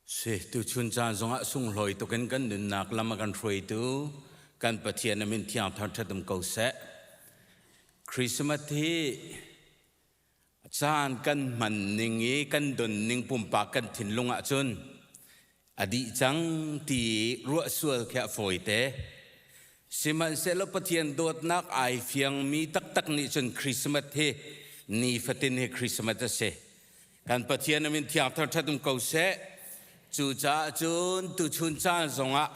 Si, tuchun caan zongah sunglawi tukin kan nunnak lam a kan hruaitu kan Pathian a min thiang thangṭhat um ko seh. Christmas hi caan kan hman ning i kan don ning pumpak kan thinlung ah cun a dih cang ti ruah sual khi a fawite. Sihmanhsehlaw Pathian dawtnak ai fiangmi taktak nih cun Christmas hi nifatin hi Christmas a si. kan Pathian in thiangthar ṭhat um ko seh. Cucaah cun tuchun caan zongah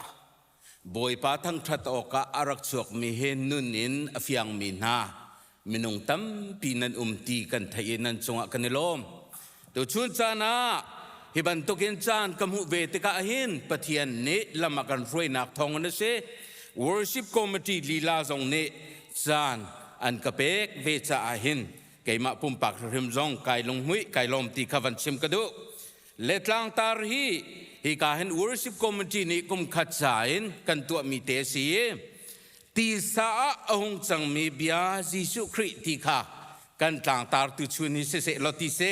Bawipa thangṭhat awkah a rak chuakmi he nun in a fiangmi hna minung tampi nan um ti kan theih i nan cungah kan i lawm. Tuchun caan ah hi bantukin caan ka hmuh ve tikah hin Pathian nih lam a kan hruainak thawngin a si worship committee lila zong nih caan an ka pek ve caah hin keimah pumpak hrim zong kai lunghmuih kai lawm ti kha van chim ka duh le tlangtar hi hi ka hin worship committee nih kum khat ca in kan tuahmi te a si i tisa ah a hung cangmi bia Jesuh Khrih ti kha kan tlangtar tu chun hi siseh law ti si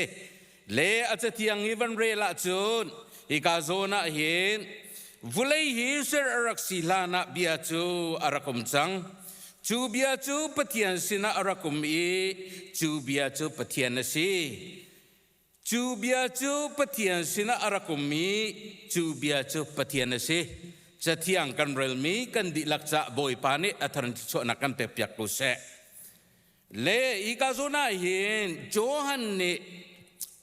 le a cathiang i van rel ahcun hika zawn ah hin vulei hi ser a rak si hlan ah bia cu a rak um cang cu bia cu Pathian sinah a rak um i cu bia cu Pathian a si cu bia cu Pathian sinah a rak um i cu bia cu Pathian a si cathiang kan relmi kan dihlak cah Bawipa nih a thar in thluachuahnak kan pek piak ko seh Le ikazun ah hin Johan nih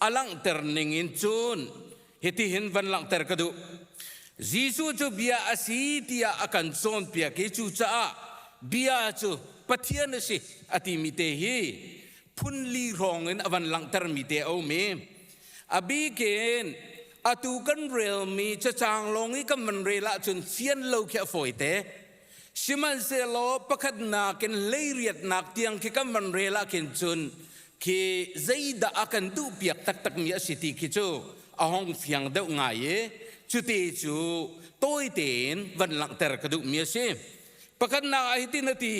a langhter ning in cun hitihin van langhter ka duh. Jesuh cu bia a si tiah a kan cawnpiak i cucaah bia cu Pathian a si a timi te hi phunli hrawng in a van langhtermi te a um i a bikin atu kan relmi cacang lawng i kan van rel ahcun fian lo khi a fawite. Sihmanhsehlaw pakhatnak in leiriatnak tiang khi kan van rel ahkhin cun khi zeidah a kan duhpiak taktakmi a si ti khi cu a hong fiang deuh ngai i cuti cu tawite in van langhter ka duhmi a si. Pakhatnak ah hitin a ti,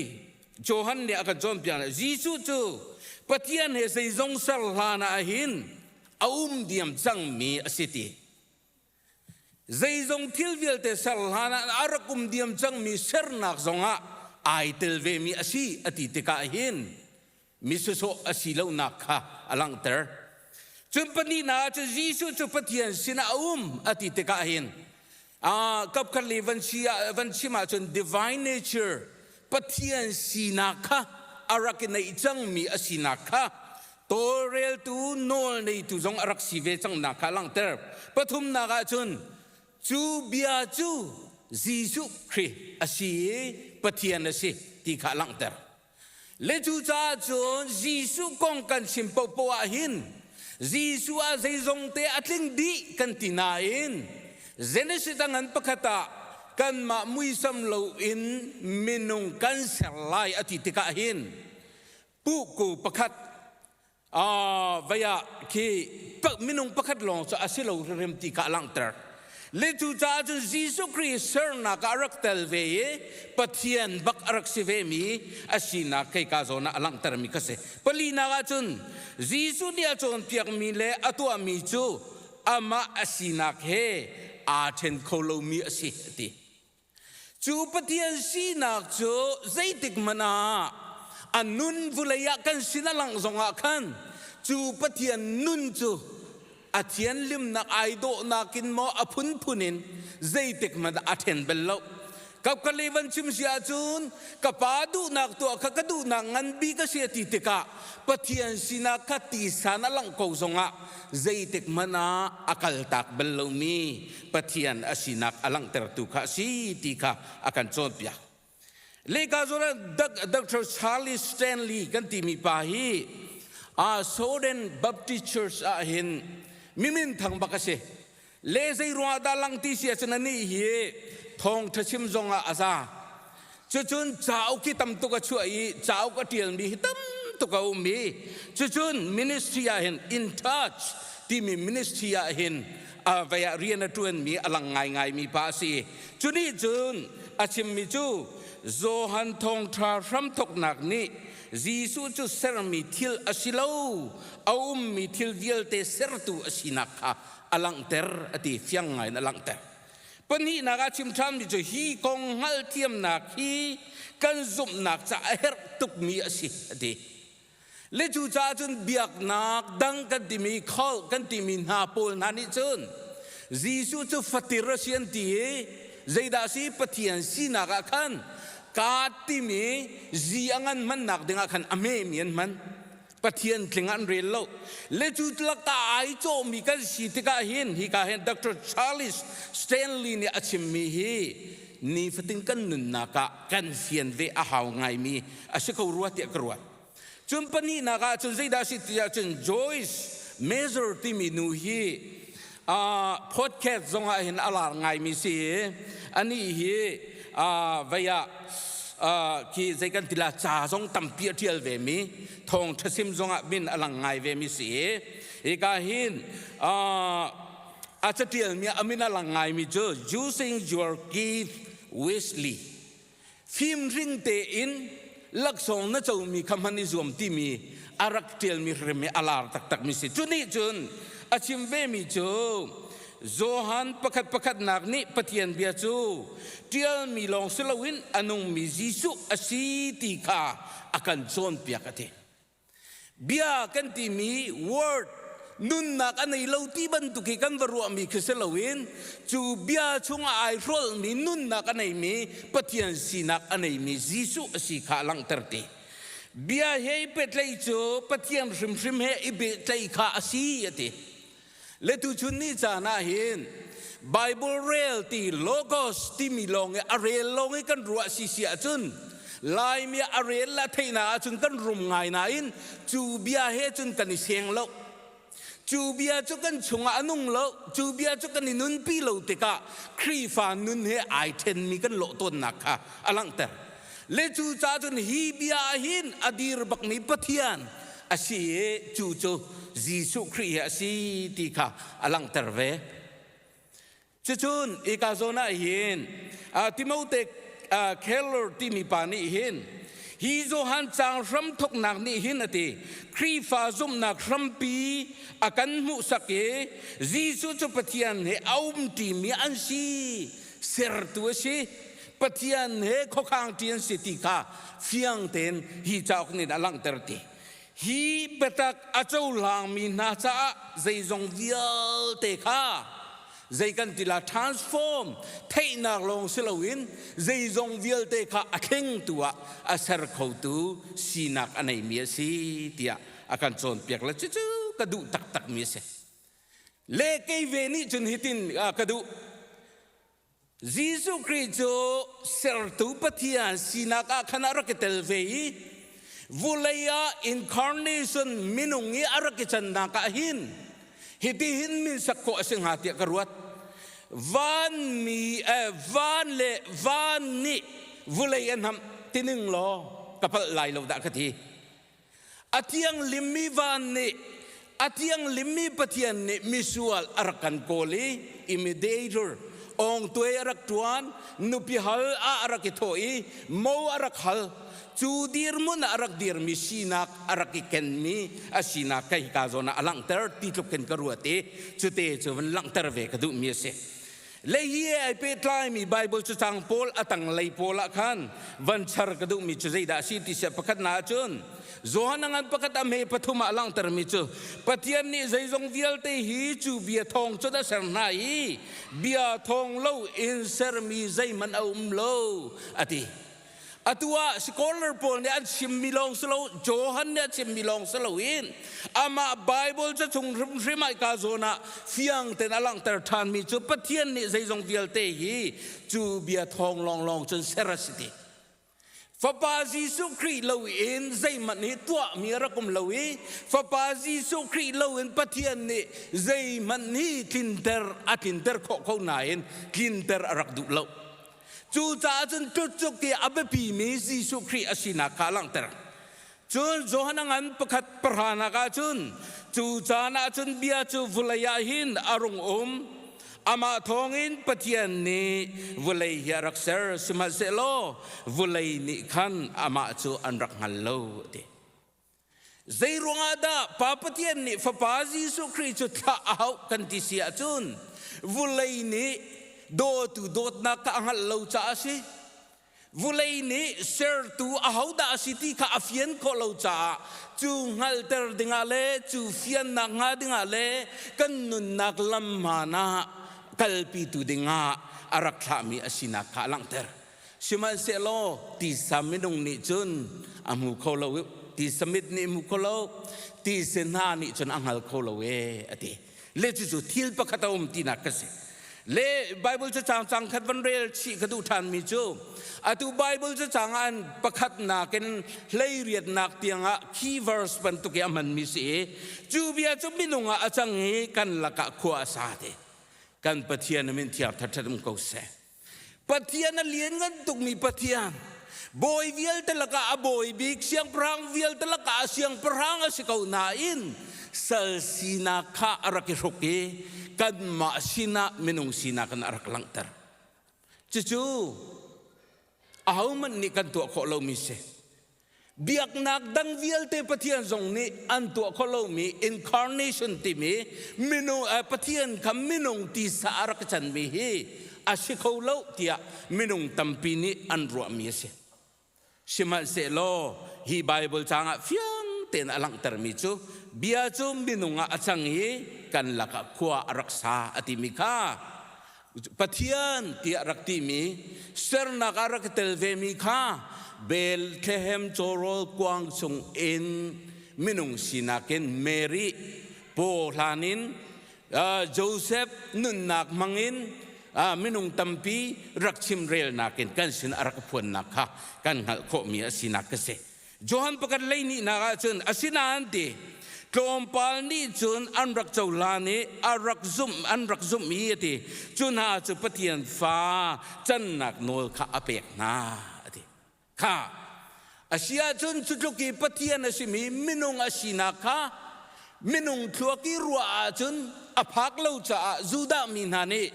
Johan nih a kan cawnpiak, Jesuh cu Pathian he zeizong ser hlan ah hin a um diam cangmi a si ti. Zeizong thil vialte ser hlan ah a rak um diam cangmi sernak zongah ai tel vemi a si a ti tikah hin misusawh a si lonak kha a langhter. Cun pahnihnak ah cun Jesuh cu Pathian sinah a um a ti tikah hin uh, kapkhat li van, si, ah, van chim ahcun divine nature Pathian sinak kha a rak i neih cangmi a sinak kha tawlreltu nawlneitu zong a rak si ve cangnak kha a langhter. Pathumnak ah cun cu bia cu Jesuh Khrih a si i Pathian a si ti kha a langhter. Le cucaah cun Jesuh kong kan chim paohpaoh ah hin Jesuh ah zeizongte a tling dih kan ti nain Genesis danghan pakhat ah kanmah muisam loin minung kan ser lai a ti tikah hin puhku pakhat vai ah khi minung pakhat lawng cu a si lo hrimhrim ti ka langhter. Le cu caah cun Jesuh Khrist sernak ah a rak tel ve i Pathian bak a rak si ve mi a sinak kei ka zawn ah a langhter mi ka si. Palinak ah cun Jesuh nih a cawnpiak mi le a tuah mi cu amah a sinak he aa ṭhen kho lomi a si a ti. Cu Pathian sinak cu zeitik hmanh ah a nun vulei ah kan sin a langh zongah khan cu Pathian nun cu a thianlimnak ai dawhnak in maw a phunphun in zeitik hmanh ah a ṭhen bal lo. Kapkali van chim si ahcun ka pa duhnak tuah kha ka duhnak nganbi ka si a ti tikah Pathian sinak kha tisan a langh ko zongah zeitik hmanh ah a kaltak bal lomi Pathian a sinak a langhtertu kha a si ti kha a kan cawnpiak. Lehka zuar Dr. Charlie Stanley kan timi pa hi aa Soden Baptist Church ah hin mi minthang bak a si. le zeiruangah dah langti si a cun anih hi thawngṭha chim zongah a za cucun cauk hi tam tuk a chuah i cauk a ṭialmi hi tam tuk a um i cucun ministry ah hin in charge timi ministry ah hin vei ah rian a ṭuanmi a lang ngaingaimi pa a si cu nih cun a chimmi cu Johan thawngṭha hramthoknak nih Jesuh cu sermi thil a si lo a ummi thil vialte sertu a sinak kha a langhter a ti fiang ngai in a langhter pahnihnak ah chim ṭhammi cu hi kong hngalhthiamnak hi kan zumhnak caah a herh tukmi a si a ti le cucaah cun biaknak dang kan timi kan timi hna pawl hna nih cun Jesuh cu fatir a si an ti i zeidah a si Pathian sinak ah khan kaa timi zi a ngan hmannak dingah khan a memi an hman Pathian tling ah an rel lo. Le cu lakah ai cawhmi kan si tikah hin hika hin Dr. Charles Stanley nih a chimmi hi nifatin kan nunnak ah kan fian ve a hau ngaimi a si ko rua tiah ka ruat. Cun pahnihnak ah cun zeidah a si tiah cun Joyce Measure timi nu hi podcast zongah hin a lar ngaimi si i anih hi vei ah khi zei kan tila ca zong tampi a ṭial vemi thawng ṭhasim zongah min a lang ngai vemi si i hika hin a caṭialmi a min a lang ngaimi cu using your gift wishly fimring tein laksawng na comi kha hman i zuam timi a rak ṭialmi hrim hi a lar taktakmi si cu nih cun a chim vemi cu Johan pakhat pakhatnak nih Pathian bia cu ṭialmi lawng si loin a nungmi Jesuh a si ti kha a kan cawnpiak a ti. Bia kan timi word nunnak a nei lo ti bantuk hi kan va ruahmi khi si loin cu bia chungah ai hrawlhmi nunnak a neimi Pathian sinak a neimi Jesuh a si kha a langhter ti. Bia he i pehtlaih cu Pathian hrimhrim he i pehtlaih kha a si a ti. le tuchun ni caan ah hin Bible rel ti logos timi lawng i a rel lawng i kan ruah si si ahcun Laimi a rel la theihna ahcun kan rum ngai nain cu bia he cun kan i seng lo cu bia cu kan chungah a nung lo cu bia cu kan i nunpi lo tikah Khrihfa nun he ai ṭhenmi kan lawh tawnnak kha a langhter le cu cahcun hi bia hin a dir bakmi Pathian a si i cu cu Jesuh Khrih hi a si ti kha a langhter ve. Cucun ika zawn ah hin Timote Keller timi pa nih hin hi Johan caang hram thoknak nih hin a ti Khrihfa zumhnak hrampi a kan hmuhsak i Jesuh cu Pathian he a um ṭimi an si sertu a si Pathian he khuakhang ṭi an si ti kha fiang tein hi cauk nih a langhter ti. Hi biatak a cohlangmi hna caah zeizong vialte kha zei kan ti la transform theihnak lawng si loin zeizong vialte kha a thlengtu ah a ser khotu sinak a neimi a si tiah a kan cawnpiak le cucu ka duh taktakmi a si. Le kei ve nih cun hitin ka duh Jesuh Khrih cu Sertu Pathian sinak ah khan a rak i tel ve i vulei ah incarnation minung i a rak i cannak ah hin hitihin min sak khawh a si hnga tiah ka ruat. Vanmi eh, van le van nih vulei a hnamh tining law ka palh lai lo dah ka ti. A thianghlimmi van nih a thianghlimmi Pathian nih misual a rak kan kawl i imitator ongtuai a rak ṭuan, nupi hal ah a rak i thawh i mo a rak hal, cu dirhmun ah a rak dirmi sinak a rak i kenmi a sinak ka hika zawn ah a langhter ti tluk khin ka ruat i cute cu van langhter ve ka duhmi a si. Lei i ai pehtlaimi Baibal cacang pawl a tanglei pawl ah khan van char ka duhmi cu zeidah a si ti si pakhatnak ah cun Johan a ngan pakhat a hme pathum ah a langhtermi cu Pathian nih zeizong vialte hi cu bia thawng cun a ser hna i bia thawng lo in sermi zeihmanh a um lo a ti. Atu ah scholar pawl nih an chimmi lawng si lo, Johan nih a chimmi lawng si lo in amah Baibal cachung hrimhrim ah ika zawn ah fiang tein a langhter ṭhanmi cu Pathian nih zeizong vialte hi cu bia thawng lawnglawng cun ser a si ti. Fapa Jesuh Khrih loin zeihmanh hi tuahmi a rak um lo i Fapa Jesuh Khrih loin Pathian nih zeihmanh hi tlinter a tlinter khawh ko nain tlinter a rak duh lo. Cucaah cun tlutcuk ti a biapimi Jesuh Khrih a sinak kha a langhter. Cun Johan a ngan pakhat pahranak ah cun cu caan ah cun bia cu vawlei ah hin a rung um. Amah thawngin Pathian nih vawlei hi a rak ser, sihmanhsehlaw vawlei nih khan amah cu an rak hngal lo, a ti. Zeiruangah dah Pa Pathian nih Fapa Jesuh Khrih cu thlah a hauh kan ti si ahcun vulei nih dawtu dawtnak kha a hngalh lo caah a si. Vulei nih sertu ahodah a si ti kha a fian khawh lo caah cu hngalhter dingah le cu fiannak hnga dingah le kan nunnak lam hmaan ah kalpitu dingah a rak thlahmi a sinak kha a langhter. Sihmanhsehlaw tisa minung nih cun a hmu kho lo i tisa mit nih a hmu kho lo, tise hna nih cun a hngal kho lo e, a ti. Le cucu thil pakhat a um tinak ka si. Le Baibal cacang cang khat van rel chih ka duh ṭhanmi cu atu Baibal cacang ah an pakhatnak in hleiriatnak tiangah key verse bantuk i a hmanmi si i cu bia cu minung ah a cang i kan lakah khua a sa te. Kan Pathian a min thiang thathat um ko seh. Pathian a lianngan tukmi Pathian, bawi vialte lakah a bawi bik, siangpahrang vialte lakah a siangpahrang a si ko nain sal sinak kha a rak i hruk i kanmah sinah minung sinak in a rak langhter. Cucu ahohmanh nih kan tuah khawh lomi si. biaknak dang vialte Pathian zong nih an tuah kho lomi incarnation timi minung eh, Pathian kha minung tisa a rak chanmi hi a si kho lo tiah minung tampi nih an ruahmi a si sihmanhsehlaw hi Bible caang ah fiang tein a langhtermi cu bia cu minung ah a cang i kan lakah khua a rak sa a timi kha Pathian tiah rak timi sernak ah rak i tel vemi kha Bethlehem cawrawl kuang chung in minung sinak in Mary pawhlan in Joseph nunnak hmang in minung tampi rak chimrelnak in kan sin a rak phuannak kha kan hngalh khawhmi a sinak ka si. Johan pakhat lei nihnak ah cun asinain ti tlawmpal nih cun an rak cohlan i a rak zumh an rak zumh i a ti cu hna cu Pathian fa cannak nawl kha a pek hna a ti kha a si ahcun cu tluk i Pathian a simi minung a sinak kha minung thluak i ruah ahcun a phak lo caah Judah mi hna nih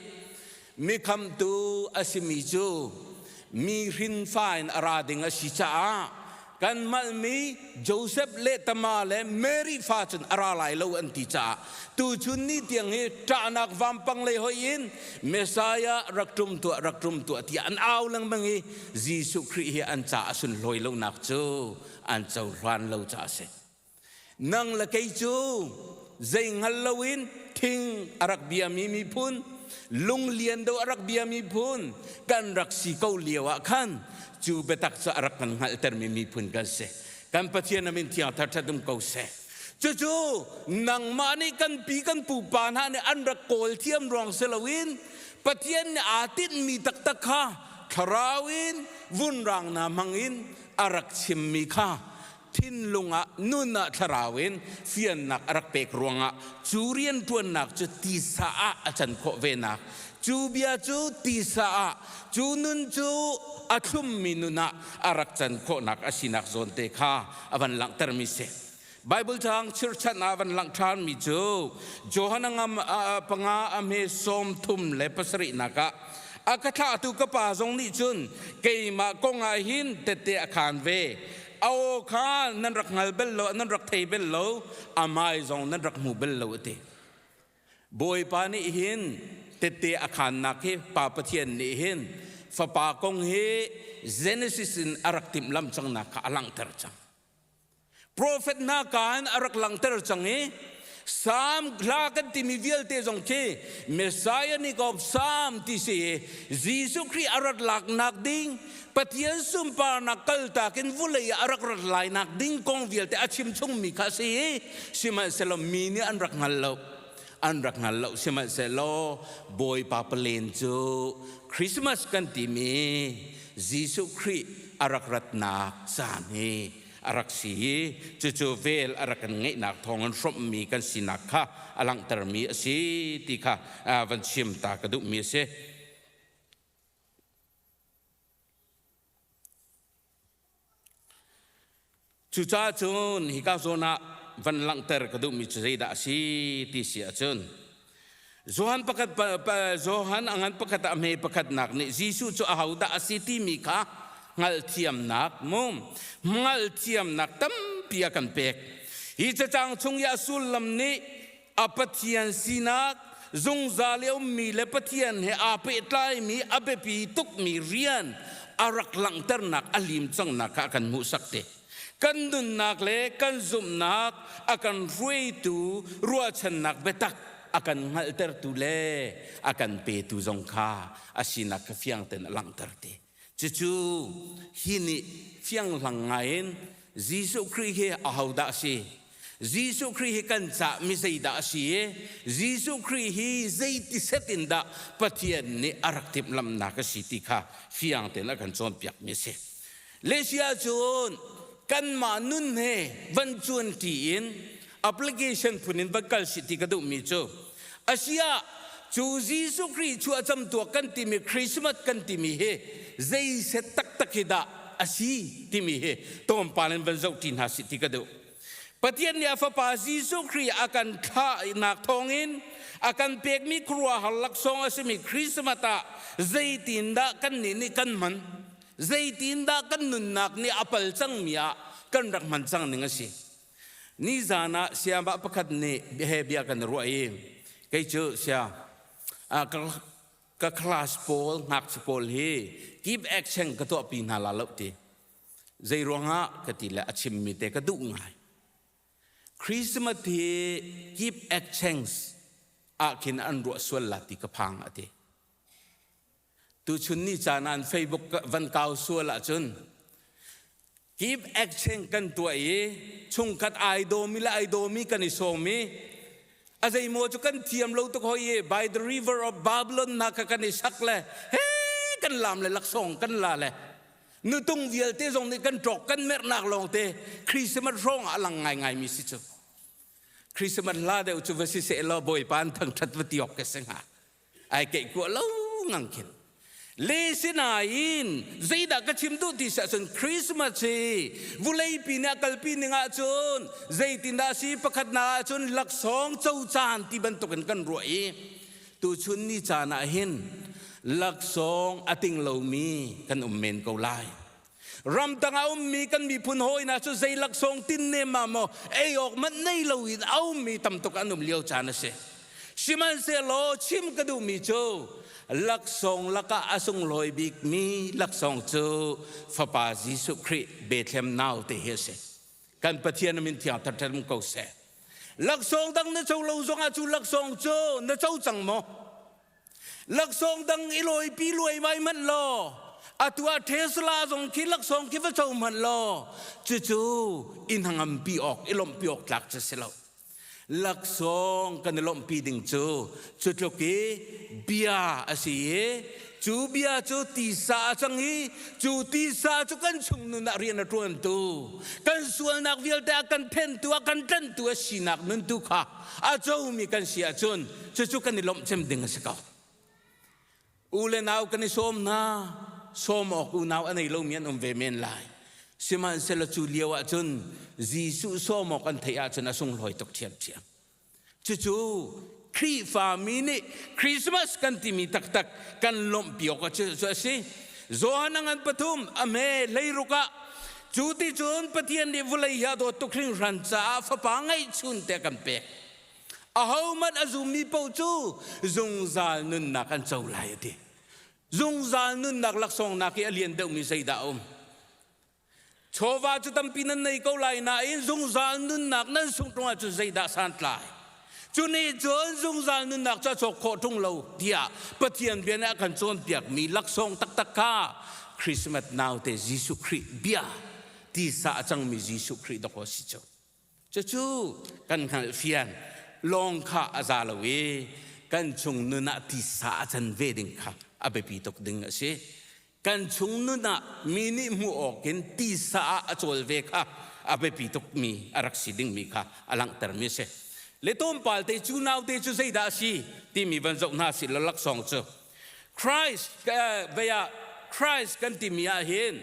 Mikhamtu a simi cu mi hrinfa in a ra ding a si caah kan malmi Josef le Tama le Mary fa cun a ra lai lo an ti caah tuchun ni tiang hi ṭahnak vampang lei hoih in Messiah rak ṭum tuah rak ṭum tuah tiah an au lengmang i Jesuh Khrih hi an ca a sunhlawi lonak cu an cohlan lo caah a si. nang le kei cu zei hngal loin thing a rak biami miphun lunglian do a rak biami phun kan rak si ko lio ah khan cu biatak cu a rak kan hngalhtermi miphun kan si kan pathian amin thiangthar ṭhatum ko seh cucu nangmah nih kan pi kan pupa hna nih an rak kawl thiam ruang si loin pathian nih aa tinhmi taktak kha thlarau in vunrang hna hmang in a rak chimmi kha Thinlung ah nun ah thlarau in fiannak a rak pek ruangah cu rianṭuannak cu tisa ah a can khawh venak, cu bia cu tisa ah, cu nun cu a thlummi nun ah a rak can khawhnak a sinak zawn te kha a van langhtermi si. Baibal caang chirhchan ah van langh ṭhanmi cu Johan a ngam panga a hme sawm thum le pasarihnak ah, A ka thlahtu ka Pa zong nih cun keimah kong ah hin tette a khaan ve, A aw kha nan rak hngal bel lo, nan rak thei bel lo, a hmai zong nan rak hmu bel lo a ti. Bawipa nih hin tette a khannak hi Pa Pathian nih hin fapa kong hi Genesis in a rak timh lam cangnak kha a langhter cang. Profet hna ka in a rak langhter cang i Psalm hla kan timi vialte zong khi Messianic of Psalm ti si Jesuh Khrih a rat laknak ding Pathian sunparnak kaltak in vulei ah a rak rat lainak ding kong vialte a chim chungmi kha si sihmanhsehlaw mi nih an rak hngal lo an rak hngal lo sihmanhsehlaw Bawipa palen cu Christmas kan timi Jesuh Khrih a rak ratnak caan hi a rak si i cucu vel a rak kan ngeihnak thawngin hrawmhmi kan sinak kha a langhtermi a si ti kha van chim ta ka duhmi a si. Cucaah cun hika zawn ah van langhter ka duhmi cu zeidah a si ti si ahcun Johan pakhat Johan a ngan pakhat ah hme pakhatnak nih Jesuh cu ahodah a si timi kha hngalhthiamnak mum hngalhthiamnak tampi a kan pek. Hi cacang chung i a sullam nih a Pathian sinak zungzal i ummi le Pathian he aa pehtlaimi a biapi tukmi rian a rak langhternak a lim cangnak kha a kan hmuhsak te. kan nunnak le kan zumhnak a kan hruaitu ruahchannak biatak a kan hngalhtertu le a kan petu zong kha a sinak kha fiang tein a langhter ti. Cucu hi nih fianghlang ngai in Jesuh Khrih hi ahodah a si Jesuh Khrih hi kan caah mi zeidah a si i Jesuh Khrih hi zeiti set in dah Pathian nih a rak timhlamhnak a si ti kha fiang tein a kan cawnpiakmi a si. Le si ahcun kanmah nun he van cuanṭi in application phun in van kal si ti ka duhmi cu a si ah cu Jesuh Khrih chuah camtuak kan timi Christmas kan timi hi zei set taktak hi dah a si timi hi tlawmpal in van zohṭi hna si ti ka duh. Pathian nih a Fapa Jesuh Khrih a kan thlahnak thawngin a kan pekmi khuaruahhar laksawng a simi Christmas ah zeitindah kannih nih kan hman, zeitindah kan nunnak nih a pal cangmi ah kan rak hman cang ning a si. Nizan ah siamah pakhat nih he bia kan i ruah i kei cu sia ka class pawl ngakchia pawl hi give action ka tuahpi hna la loh ti. Zeiruangah ka ti le a chimmi te ka duh ngai. Christmas hi keep exchange ah khin an ruah sual la ti ka phang a ti. Tuchun ni caan an Facebook van kau sual ahcun keep exchange kan tuah i chungkhat ai dawmi le ai dawmi kan i sawm i a zeimaw cu kan thiam lo tuk hoi i by the river of Babylon na ka kan i sak le he kan lam le laksawng kan la le nutung vialte zong nih kan ṭawk kan merhnak lawngte Christmas hrawng ah a lang ngaingaimi si cu Christmas la deuh cu va si seh law Bawipa an thangṭhat va ti awk ka si hnga ai keih kuah lo ngang khin le sinain zeidah ka chim duh ti siah cun Christmas hi vuleipi nih a kalpi ning ahcun zeitindah a si pakhat na ahcun laksawng cocaan ti bantukin kan ruah i Tuchun ni caan ah hin laksawng a ting lomi kan um men ko lai. Ramtang a ummi kan miphun hawi hna cu zei laksawng tin ne ma maw ei awk manh nei lo in a ummi tamtuk an um lio caan a si. Sihmanhsehlaw chim ka duhmi cu laksawng lakah a sunglawi bikmi laksawng cu fapa Jesuh Khrih bethlem nau te hi a si. kan pathian min thiangthar ṭem ko seh laksawng dang na co lo zongah cu laksawng cu na co cang maw laksawng dang i lawi pi luai mai hmanh law atu ah Tesla zong khi laksawng khi va co hmanh law cucu inn hangam pi awk i lawmh pi awk tlak cu si lo laksawng kan i lawmhpi ding cu cu tluk i bia a si i cu bia cu tisa a cang i cu tisa cu kan chungnun ah rian a ṭuantu kan sualnak vialte a kan phentu a kan tlanhtu a sinak nun tu kha a comi kan si ahcun cucu kan i lawmh cem ding a si ko. U le nau kan i sawm hna sawm awk unau a nei lomi an um ve men lai sihmanhsehlaw cu lio ah cun Jesuh sawm awk an theih ahcun a sunglawi tuk ṭhiamṭhiam cucu Khrihfami nih Christmas kan timi taktak kan lawmhpi awk cu a si Johan a ngan pathum a hme leiruk ah cu ti cun Pathian nih vulei hi a dawt tuk hringhran caah fapa ngeih chun te kan pek ahohmanh a zummi paoh cu zungzal nunnak an co lai a ti zungzal nunnak laksawngnak hi a lian deuhmi zeidah a um chawva cu tampi nan nei ko lai nain zungzal nunnak nan sungh ṭung ahcun zeidah santlai cu nih cun zungzal nunnak cu a cawk khawh ṭung lo tiah Pathian bia nih a kan cawnpiakmi laksawng taktak kha Christmas naute Jesuh Khrih bia tisa a cangmi Jesuh Khrih dawk aw si cu Cucu kan hngalhfian, lawng kha a za lo i kan chung nun ah tisa a can ve ding kha a biapi tuk ding a si. Kan chung nun ah mi nih hmuh awk in tisa ah a cawl ve kha a biapi tukmi a rak si dingmi kha a langhtermi a si. Le tlawmpal te cu naute cu zeidah a si timi van zoh hna sih law laksawng cu Christ vei ah Christ kan timi ahhin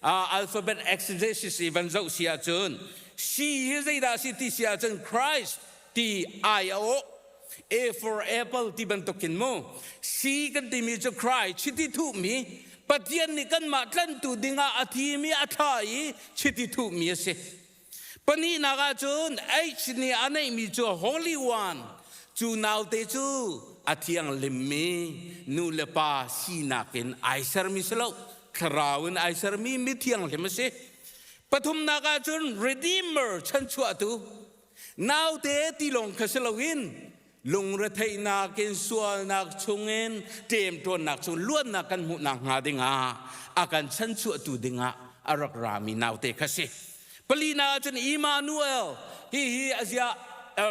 alphabet exegesis i van zoh si ahcun she hi zeidah a si ti si ahcun Christ ti ai a awh a for apple ti bantuk in mu she kan timi cu Christ chiti thuhmi Pathian nih kanmah tlanhtu ding ah a thimi a thla i chiti thuhmi a si Pahnihnak ahcun aids nih a neihmi cu Holy One, cu naute cu a thianghlimmi nu le pa sinak in ai sermi si lo, thlarau in ai sermi mithianghlim a si. Pathumnak ahcun Redeemer chanchuahtu, naute ti lawng kha si loin lungretheihnak in sualnak chungin ṭemṭuannak chung luannak kan hmuhnak hnga dingah a kan chanchuahtu dingah a rak rami naute kha si pali na ahcun Emmanuel hihi a zia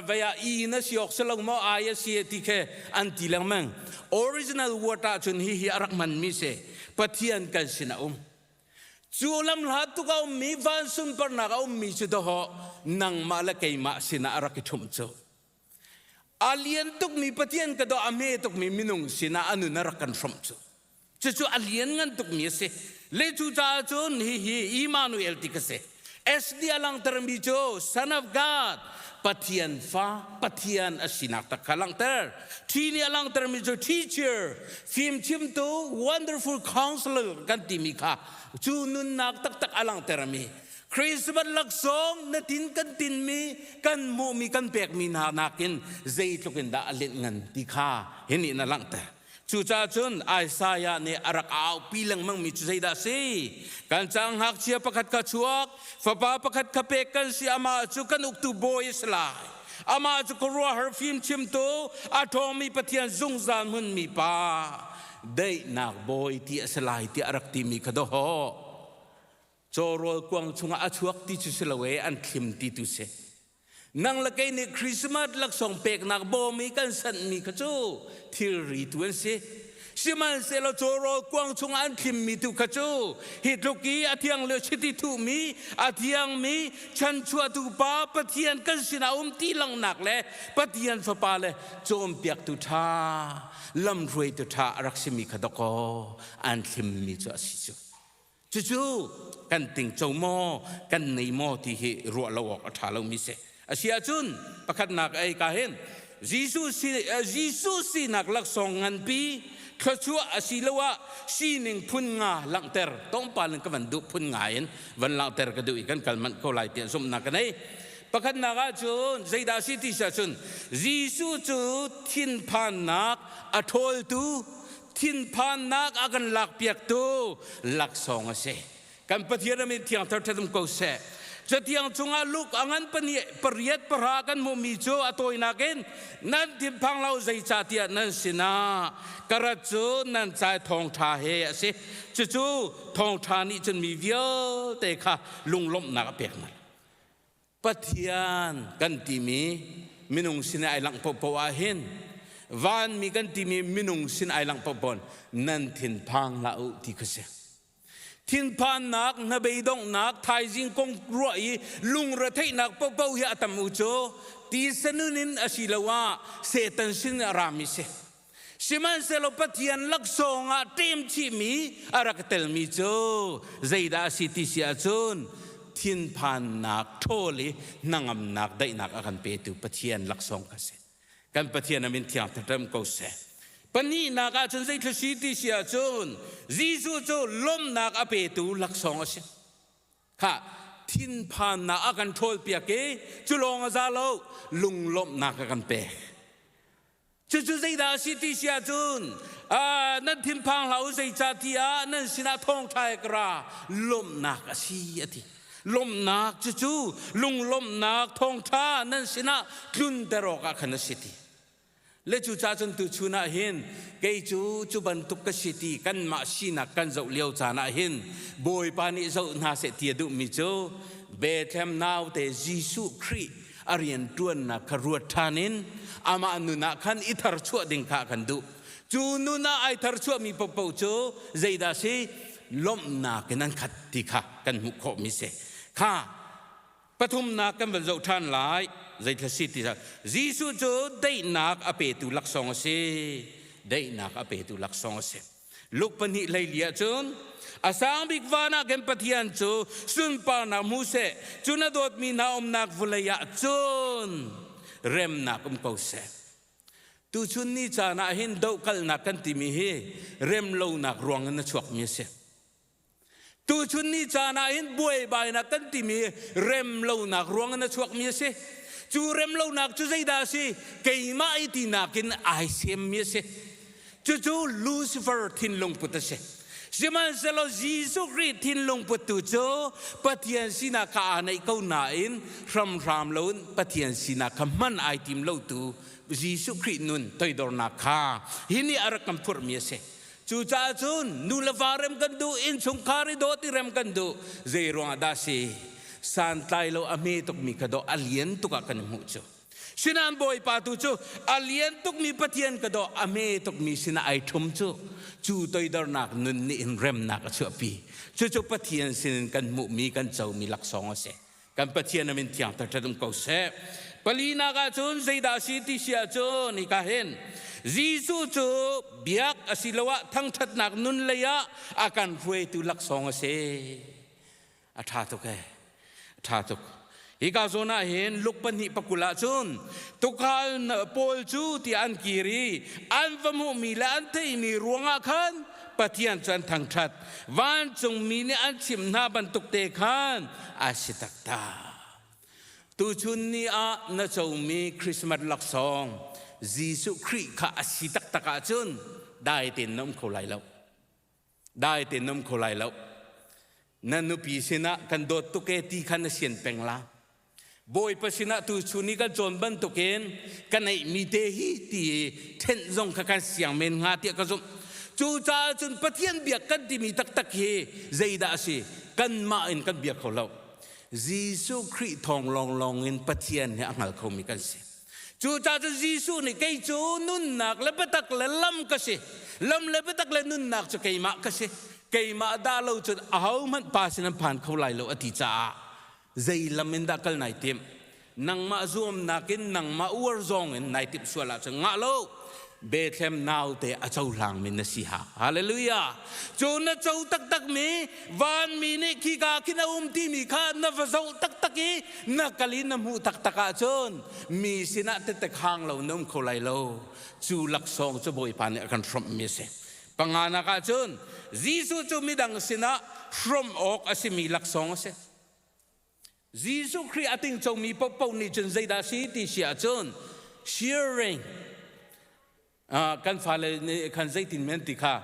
vaya i na si awk si lo maw ai a si ti khe an ti lengmang original word ahcun hihi a rak hmanmi si pathian kan sin a um cu lam hla tuk a ummi van sunparnak a ummi cu doho nangmah le keimah sinah a rak i ṭhum cu A lian tukmi Pathian ka doh a hme tukmi minung sinah a nun a rak kan hrawmh cu. Cucu a lianngan tukmi a si. Le cu caah cun hihi Immanuel ti ka si. SD a langhtermi cu Son of God, Pathian fa, Pathian a sinak tak kha langhter. Thi nih a langhtermi cu teacher, fimchimtu, wonderful counselor kan timi kha cu nunnak taktak a langhtermi Christmas laksawng na tin kan tinmi kan hmuhmi kan pekmi hna nakin zeitluk in dah a linh ngan ti kha hinih na langhter. Cucaah cun Isaiah nih a rak aupi lengmangmi cu zeidah a si? Kan cang ngakchia pakhat kha chuak, fapa pakhat kha pek kan si, amah cu kan uktu bawi a si lai. Amah cu khuaruahhar fimchimtu, a ṭhawngmi Pathian zungzal hmunmi pa, daihnak bawi ti a si lai tiah a rak timi kha dawh. Caw rawl kuang chungah a chuak ti cu si lo e an thlim ti tu si. Nang le kei nih Christmas laksawng peknak bawm i kan sanhmi kha cu thilri tu an si. Sihmanhsehlaw caw rawl kuang chungah an thlimmi tu kha cu hi tluk i a thiang lio chiti thuhmi, a thiangmi chanchuahtu pa Pathian kan sinah um ti langnak le Pathian fapa le cawnpiaktu ṭha, lamhruaitu ṭha a rak simi kha dakaw an thlimmi cu a si cu. Cucu kan ting co maw, kan nei maw ti hi ruah lo awk a ṭha lomi si. Asiahcun pakhatnak a eika hin Jesuh Jesuh sinak laksawng nganpi thluachuah asiloah sining phun nga langhter, tlawmpal in ka van duh phun nga in van langhter ka duh i kan kal manh ko lai tiah zumhnak ka nei. Pakhatnak ahcun zeidah a si ti si ahcun Jesuh cu thinphannak a ṭhawltu thinphannak a kan lakpiaktu laksawng a si. Kan Pathian a min thiangthar ṭhatum ko seh. Catiang chungah Luke a ngan pariat pahra kan hmuhmi cu a tawinak in nan thinphang lo zeicahtiah nan sinah ka rat cu nan cai thawngṭha he a si. Cucu thawngṭha nih cun mi vialte kha lunglawmhnak a pek hna. Pathian kan timi minung sin ai langh pohpoh ah hin vanmi kan timi minung sin ai langh pohpoh nan thinphang hlah u ti kha si thinphannak hnabeidonghnak thaizing kong ruah i lungretheihnak pohpoh hi a tam u cu ti sanun in a si lo ah setan sin a rami si Sihmanhsehlaw Pathian laksawng ah ṭem chihmi a rak telmi cu zeidah a si ti si ahcun thinphannak ṭhawl i hnangamnak daihnak a kan petu Pathian laksawng kha si. Kan Pathian a min thiang ṭhaṭem ko seh. Pahnihnak ah cun zeithla si ti si ahcun Jesuh cu lawmhnak a petu laksawng a si. Khah, thinphannak a kan ṭhawlpiak i cu lawng a za lo, lunglawmhnak a kan pek. Cucu zeidah a si ti si ahcun nan thinphang hlah u, zeicah ti ah nan sinah thawngṭha i ka ra, lawmhnak a si a ti. Lawmhnak cucu lunglawmhnak thawngṭha nan sinah tlunter awkah khan a si ti. Le cucah cun tuchun ah hin kei cu cu bantuk ka si ti kanmah sinak kan zoh lio caan ah hin Bawipa nih zoh hna seh ti a duhmi cu Bethlehem naute Jesuh Khrih a rianṭuannak kha ruat ṭhan in amah nun ah khan i tharchuah ding kha kan duh. Cu nun ah ai tharchuahmi paohpaoh cu zeidah a si? Lawmhnak in an khat ti kha kan hmuh khawhmi a si. Kha Pathumnak kan van zoh ṭhan lai, zeitluk si ti Jesuh cu daihnak a petu laksawng a si. Daihnak a petu laksawng a si. Luke pahnih leili ah cun a sang bik van ah khin Pathian cu sunparnak hmu seh, cu na dawtmi hna umnak vawlei ah cun remnak um ko seh. Tuchun ni caan ah hin dohkalhnak kan timi hi remlonak ruang in a chuakmi a si. Tuchun ni caan ahhin buaibainak kan timi remlonak ruang in a chuakmi a si. Cu remlonak cu zeidah a si? Keimah i tinak in ai semmi a si. Cucu Lucifer thinlung put a si. Sihmanhsehlaw Jesuh Khrih thinlung puttu cu Pathian sinak kha aa neih ko nain hramhram loin Pathian sinak kha hman ai tim lotu Jesuh Khrih nun toidornak kha hi nih a rak kan phurhmi a si. Cucaah cun nu le va rem kan duh, innchungkhar i dawt i rem kan duh. Zeiruangah dah si? Santlai lo a hme tukmi ka daw, a lian tuk ah kan i hmuh cu. Sinain Bawipa tu cu a lian tukmi Pathian ka daw, a hme tukmi sinah ai ṭhum cu. Cu toidornak nun nih hin remnak a chuahpi. Cucu Pathian sinin kan hmuhmi, kan comi laksawng a si. kan Pathian a min thiangter ṭhan um ko seh. Palinak ah cun zeidah a si ti si ahcun hika hin Jesuh cu biak asiloah thangṭhatnak nun lei ah a kan hruaitu laksawng a si. A ṭha tuk e. A ṭha tuk. Hika zawn ah hin Luke pahnih pakul ah cun tuukhal pawl cu tiah an kir i an va hmuhmi le an theihmi ruangah khan Pathian cu an thangṭhat. Vancungmi nih an chimh hna bantukte khan a si taktak. Tuchun ni ah na comi Christmas laksawng Jesuh Khrih kha a si taktak ahcun dai tein na um kho lai lo. Dai tein na um kho lai lo. Na nupi sinah kan dawt tuk e ti kha na sian peng la. Bawipa sinah tu chun i kan cawn bantukin ka neihmi te hi ti ṭhenh zong kha kan siang men hnga tiah ka zumh. Cucaah cun Pathian biak kan timi taktak hi zeidah a si? Kanmah in kan biak kho lo. Jesuh Khrih thawng lawnglawng in Pathian hi a hngal khomi kan si. Cucaah cun Jesuh nih kei cu nunnak le biatak le lam ka si. Lam le biatak le nunnak cu keimah ka si. Keimah dah lo cun ahohmanh pa sin an phan kho lai lo a ti caah Zei lam in dah kal nai timh? Nangmah zuamnak in nangmah uar zong in nai timh sual ahcun ngah lo Bethlehem naute a cohlangmi na si ha. Hallelujah! Cu na co taktakmi, vanmi nih khika khin a um timi kha na va zoh taktak i na kal i na hmuh taktak ahcun mi sinah tete khang lo na um kho lai lo. Cu laksawng cu Bawipa nih a kan hrawmhmi a si. Panganak ahcun Jesuh cu midang sinah hrawmh awk a simi laksawng a si. Jesuh Khrih a ting comi paohpaoh nih cun zeidah a si ti si ahcun sharing kan fale nih khan zeitin men ti kha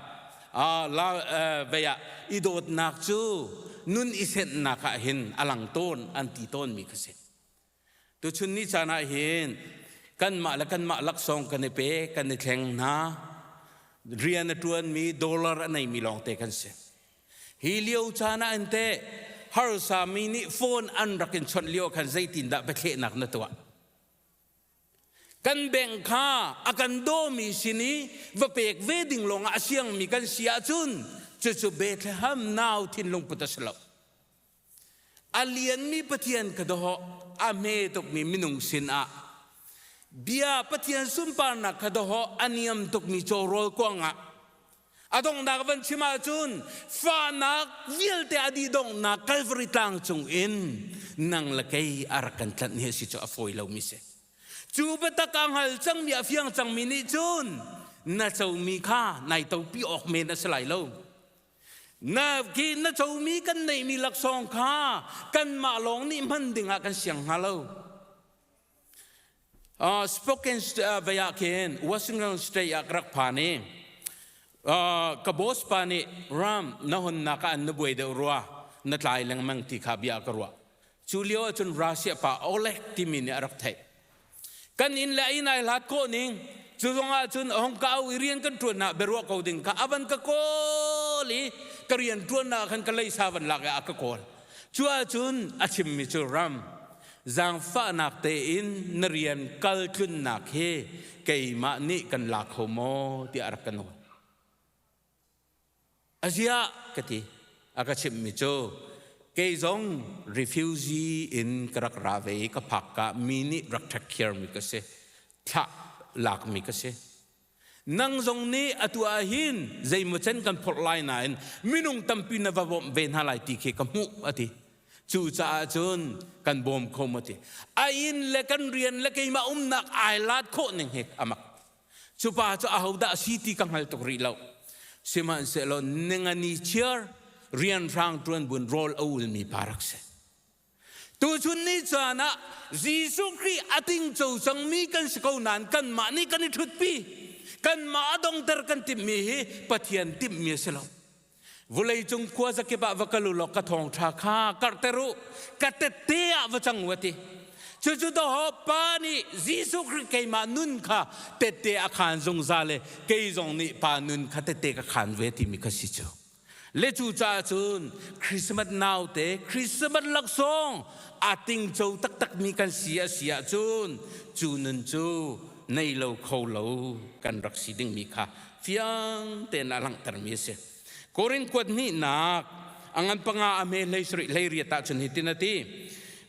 vei ah i dawtnak cu nun i sennak ah hin a lang tawn an ti tawnmi kha si. Tuchun ni caan ah hin kanmah le kanmah laksawng kan i pe, kan i thleng hna. Rian a ṭuanmi, dollar a neimi lawngte kan si. Hi lio caan ah in teh harsa mi nih phone an rak in chawnh lio khan zeitindah biathlehnak na tuah? Kan bank kha a kan dawmi sin i va pek ve ding lawngah a siangmi kan si ahcun cucu Bethlehem nau thinlung put a si lo. A lianmi Pathian ka dawh, a hme tukmi minung sinah bia Pathian sunparnak kha dawh, a niam tukmi cawrawl kuangah a donghnak van chim ahcun fahnak vialte a dih donghnak Kalvari tlang cungin nang le kei a rak kan tlanh hi a si cu a fawi lomi si. Cu biatak a hngal cangmi a fiang cangmi nih cun na comi kha nai topi awk men a si lai lo. Na ke na comi kan neihmi laksawng kha kanmah lawng nih hman dingah kan siang hnga lo. Uh, spoken uh, vaya khin Washington State ah rak phan i uh, ka boss pa nih ram na honnak ka an na buai deuh rua na tlai lengmang ti kha bia ka ruah cu lio ahcun Russia pa Oleg timi nih a rak theih kan inn le a inn ai hlat khawh ning cu zongah cun a hong ka au i rian kan ṭuannak biaruah ko ding kha a van ka kawl i ka rian ṭuannak khan ka leisa van lak i a ka kawl cu ahcun a chimmi cu ram zaangfahnak tein na rian kal tlunnak hi keimah nih kan la kho maw tiah rak ka nawl A ziah ka ti. A ka chimhmi cu kei zong refugee in ka rak ra ve i ka phak ka mi nih rak ṭhakkhiarmi ka si. Thlah lakmi ka si. Nang zong nih atu ah hin zeimaw can kan phorh lai nain minung tampi na va bawmh ve hna lai ti khi ka hmuh a ti. Cucaah cun kan bawm kho a ti. A inn le kan rian le keimah umnak ai laat khawh ning hi a mak. Cu pa cu ahodah a si ti ka hngal tuk rih lo. Sihmanhsehlaw ningani chiar rianhrang ṭuan buin rawl a ulmi pa rak si. Tuchun ni caan ah Jesuh Khrih a tingco cangmi kan si ko nain kanmah nih kan i ṭhutpi. Kanmah a dongter kan timhmi hi Pathian timhmi a si lo. Vuleicung khua zakip ah va kal u law ka thawngṭha kha karhter u, ka tette ah va cang u, a ti. Cucu dawho pa nih Jesuh Khrih keimah nun kha tette a khaan zungzal i kei zong nih pa nun kha tette ka khaan ve timi kha si cu. Le cu caah cun Christmas naute Christmas laksawng a tingco taktakmi kan si a si ahcun cu nun cu nei lo kho lo kan rak si dingmi kha fiang tein a langhtermi a si. Korin kuat hnihnak a ngan panga a hme hlei sarih hlei riat ah cun hitin a ti,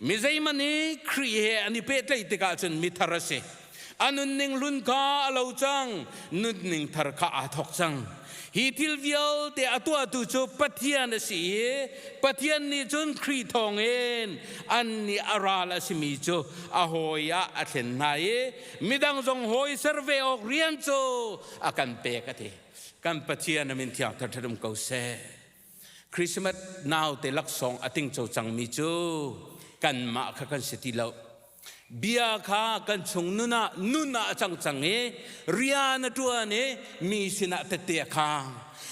Mi zeihmanh i Khrih he an i pehtlaih tikah cun mithar a si. A nunning hlun kha a lo cang, nunning thar kha aa thawk cang. Hi thil vialte a tuahtu cu Pathian a si i Pathian nih cun Khrih thawngin annih a ral a simi cu a hawi ah a thlen hna i Midang zong hawi ser ve awk rian cu a kan pek a ti. Kan Pathian a min thiang thathat um ko seh. Christmas naute laksawng a tingco cangmi cu kanmah kha kan si ti lo. Bia kha kan chung nun ah nun ah a cang cang i rian a ṭuan i mi sinah tette a khang.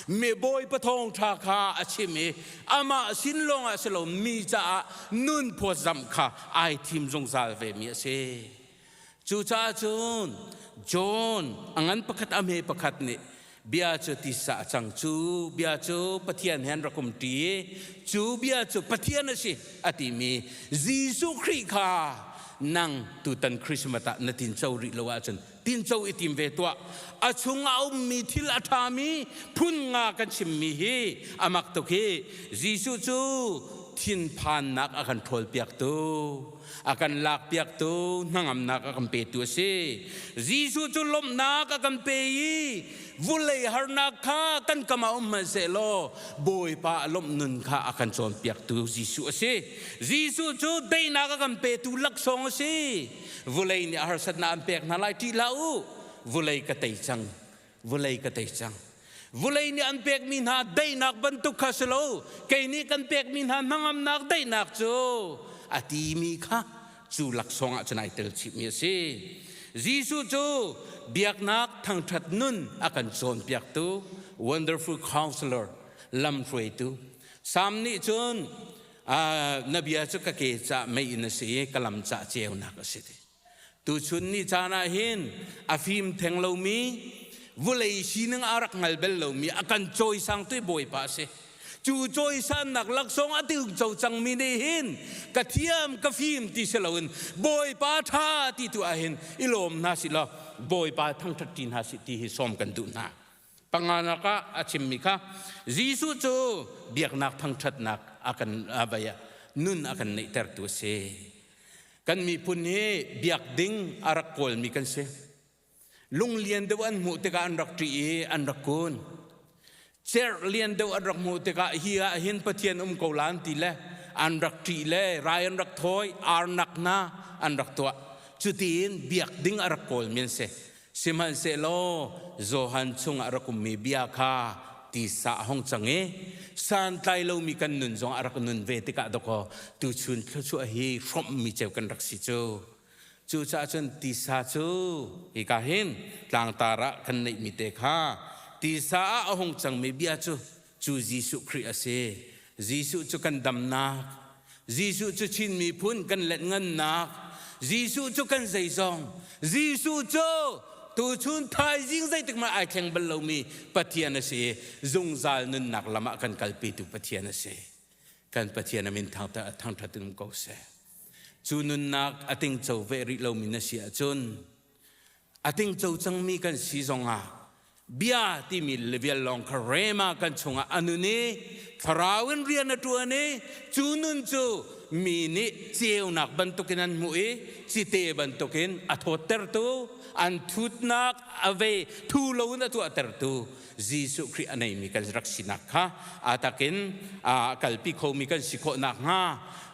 Mi bawipa thawngṭha kha a chim i amah sin lawngah si lo mi caah nun phawtzamh kha ai thim zungzal vemi a si. Cucaah cun John a ngan pakhat a hme pakhat nih bia cu tisa a cang cu bia cu Pathian he an rak um ṭi i cu bia cu Pathian a si a timi Jesuh Khrih kha nang tutan Christmas ah na tinco rih lo ahcun tinco i tim ve tuah a chung a ummi thil a ṭhami phun nga kan chimmi hi a mak tuk hi Jesuh cu thinphannak a kan ṭhawlpiaktu a kan lakpiaktu hnangamnak a kan petu a si. Jesuh cu lawmhnak a kan pe i vulei harnak kha kan kam ah um hmanhsehlaw Bawipa lawmh nun kha a kan cawnpiaktu Jesuh a si. Jesuh cu daihnak a kan petu laksawng a si. Vulei nih harsatnak an pek hna lai ṭih hlah u, vulei ka tei cang vulei ka tei cang vulei nih an pekmi hna daihnak bantuk kha si lo kei nih kan pekmi hna hnangamnak daihnak cu a timi kha cu laksawng ah cun ai tel chihmi a si Jesuh cu biaknak thangṭhat nun a kan cawnpiaktu wonderful counselor lamhruaitu Salm nih cun na bia cu ka ke cah mei in a si i ka lam cah ceunak a si ti Tuchun ni caan ah hin a fim theng lomi vulei sining a rak ngal bel lomi a kan cawisang tu Bawipa a si. Cu cawisannak laksawng a tingco cangmi nih hin ka thiam ka fim ti si loin Bawipa ṭha ti tu ah hin i lawm hna si law Bawipa thangṭhat ṭi hna si ti hi sawm kan duh hna. Panganak ah a chimmi kha Jesuh cu biaknak thangṭhatnak a kan a vai ah nun a kan neihtertu a si. Kan miphun hi biak ding a rak kawlmi kan si. Lunglian deuh an hmuh tikah an rak ṭih i an rak kun. Cerh lian deuh an rak hmuh tikah hi ah hin Pathian um ko lan ti le an rak ṭih le rai an rak thawi, arnak hna an rak tuah. Cutiin biak ding a rak kawlmi an si. Sihmanhsehlaw Johan chungah rak ummi bia kha tisa a hung cang i santlai lomi kan nun zong ah a rak nun ve tikah dawkaw tuchun thluachuah hi hrawmhmi ceu kan rak si cu. Cucaah cun tisa cu hika hin tlangtar ah kan neihmi te kha tisa ah a hung cangmi bia cu cu Jesuh Khrih a si. Jesuh cu kan damnak, Jesuh cu Chin miphun kan letngannak, Jesuh cu kan zeizong, Jesuh cu tuchun thaizing zeitikmah ai thleng bal lomi Pathian a si i zungzal nunnak lam ah kan kalpitu Pathian a si. Kan Pathian a min thangṭhat in um ko seh. Cu nunnak a tingco ve rih lomi na si ahcun a tingco cangmi kan si zongah bia timi vial lawng kha rema kan chungah a nun i thlarau in rian a ṭuan i cu nun cu mi nih ceunak bantukin an hmuh i cite bantukin a thawttertu an thutnak a ve thu loin a tuahtertu Jesuh Khrih a neimi kan rak sinak kha a takin kalpi khomi kan si khawh nakhnga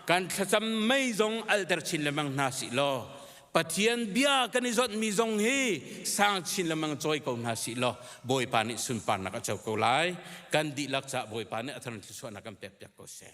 kan thlacam mei zong alter chin lemang hna si law Pathian bia kan i zonhmi zong hi sang chin lemang cawi ko hna sih law Bawipa nih sunparnak a co ko lai. Kan dihlak caah Bawipa nih a thar thlusuahnak kan pekpiak ko seh.